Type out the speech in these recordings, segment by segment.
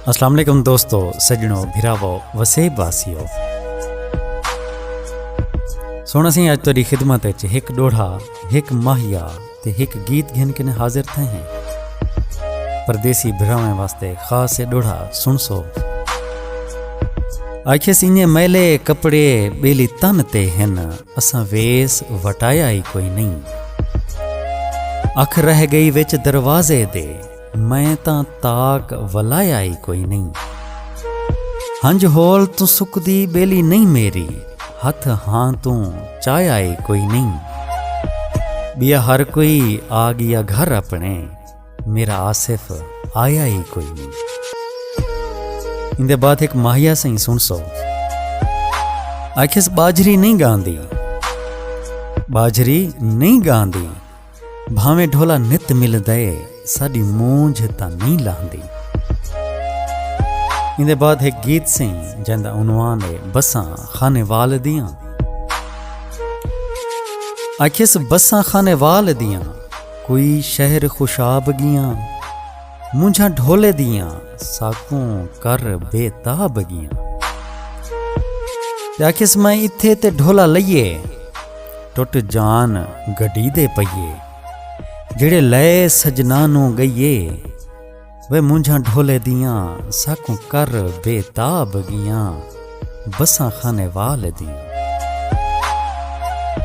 السلام علیکم دوستو سجنو بھراو وسیب واسیو سونا سی اج تیری خدمت وچ ایک ڈوڑھا ایک ماہیا تے ایک گیت گھن کنے حاضر تھے ہیں پردیسی بھراویں واسطے خاص ڈوڑھا سن سو آکھے سینے میلے کپڑے بیلی تن تے ہیں اساں ویس وٹایا ای کوئی نئیں۔ اکھ رہ گئی وچ دروازے دے میں تاں تاک ولایا ای کوئی نئیں۔ ہنج ہول توں سکدی ٻیلی نئیں میری ہتھ ہاں توں چایا ای کوئی نئیں۔ ٻیا ہر کوئی آ ڳیا گھر اپݨے۔ میرا آصف آیا ہی کوئی نہیں ان دے بعد ایک ماہیا سائیں سن سو آخس باجری نہیں گاندی باجری نہیں گاندی بھاویں ڈھولا نت مل دے ساڈی مونجھ تا نہیں لاندی ان دے بعد ایک گیت سائیں جن دا عنوان ہے بساں خانے وال دیاں آخس بساں خانے وال دیاں کوئی شہر خوشاب گیاں مونجھاں ڈھولے دیاں ساکوں کر بے تاب گیاں آکھیس میں اتھے تے ڈھولا لئیے ٹوٹ جان گڈی دے پئیے جڑے لئے سجنانوں گئیے وے مونجھاں ڈھولے دیاں ساکوں کر بے تاب گیاں بساں خانے وال دیاں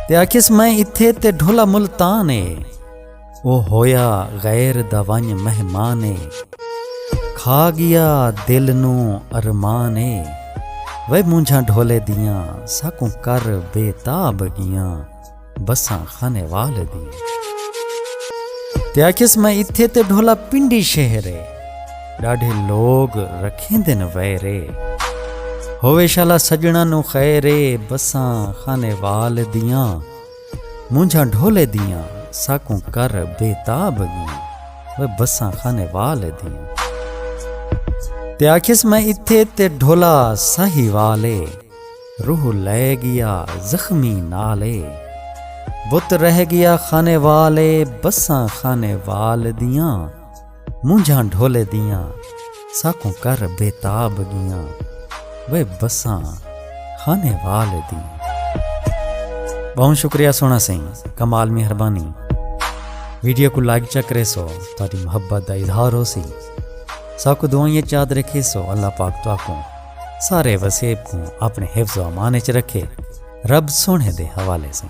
تے آکھیس میں اتھے تے ڈھولا ملتان اے او ہویا غیر دا ونج مہمان اے کھا گیا دل نو ارمان اے وے مونجھاں ڈھولے دیاں ساکوں کر بے تاب گیاں بساں خانے وال دی تے آکھیس میں اتھے تے ڈھولا پنڈی شہر ہے ڈاڈھے لوگ رکھیں دن ویرے ہوئے شالا سجنا نو خیرے بساں خانے وال دیاں مونجھا ڈھولے دیاں ساکوں کر بے تاب گیاں وہ بساں خانے وال دیاں تے آکھیس میں اتھے تے ڈھولا ساہی والے روح لے گیا زخمی نال اے بت رہ گیا خانے وال اے بساں خانے وال دیاں مونجھاں ڈھولے دیاں ساکوں کر بے تاب گیاں وے بساں خانے وال دی بہوں شکریہ سونا سائیں کمال مہربانی ویڈیو کو لائک چکرے سو تاری محبت دا اظہار ہو سی ساکو دعائیں چاد رکھے سو اللہ پاک تو آکوں سارے وسیب کوں اپنے حفظ و امان اچ رکھے رب سوہنے دے حوالے سوں۔